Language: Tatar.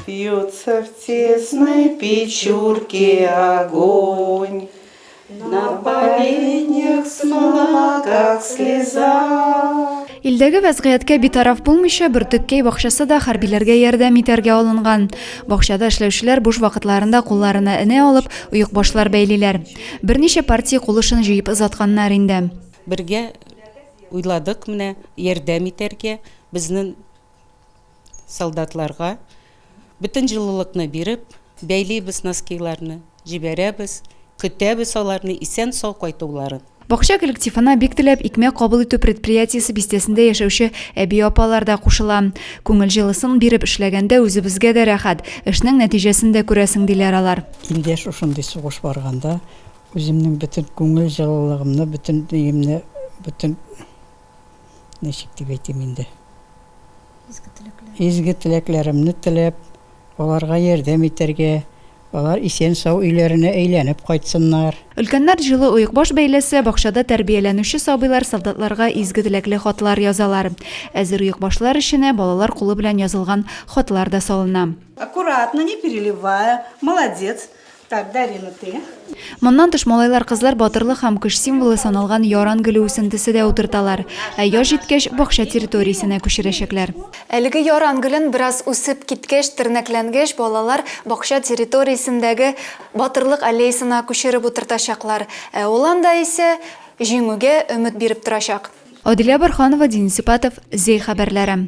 Бьется в тесной печурке огонь, На поленьях смола, как слеза. Илдәге вәзгыятькә битараф булмыйча, Бөртеккәй бакчасы да хәрбиләргә ярдәм итәргә алынган. Бакчада эшләүчеләр буш вакытларында кулларына энә алып, оекбашлар бәйлиләр. Берничә партия кул эшен җыеп озатканнар инде. Бергә уйладык менә ярдәм итәргә, безнең солдатларга бөтен җылылыкны биреп, бәйлибез носкиларны, җибәрәбез, көтәбез аларны исән-сау кайтуларын. Бакча коллективына бик теләп икмәк кабул итү предприятиесе бистәсендә яшәүче әби-апалар да кушыла. Күңел җылысын биреп эшләгәндә үзебезгә дә рәхәт, эшнең нәтиҗәсен дә күрәсең, диләр алар. Инде шушындый сугыш барганда үземнең бөтен күңел җылылыгымны, бөтен өемне, бөтен. ничек дип әйтим инде, изге теләкләремне теләп, аларга ярдәм итәргә, алар исән-сау өйләренә әйләнеп кайтсыннар. Өлкәннәр җылы оекбаш бәйләсә, бакчада тәрбияләнүче сабыйлар солдатларга изге теләкле хатлар язалар. Әзер оекбашлар эченә балалар кулы белән язылган хатлар да салына. Аккуратно, не переливая, молодец. Так, Дарья, ну ты. Моннан тыш малайлар-кызлар батырлык һәм көч символы саналган яран гөле үсентесе дә утырталар. Ә яз җиткәч, бакча территориясенә күчерәчәкләр. Әлеге яран гөлен бераз үсеп киткәч, тернәкләнгәч, балалар бакча территориясендәге Батырлык аллеясына күчереп утыртачаклар. Ә ул анда исә җиңүгә өмет биреп торачак. Адилә Борһанова, Дин Сипатов, Зәй хәбәрләре.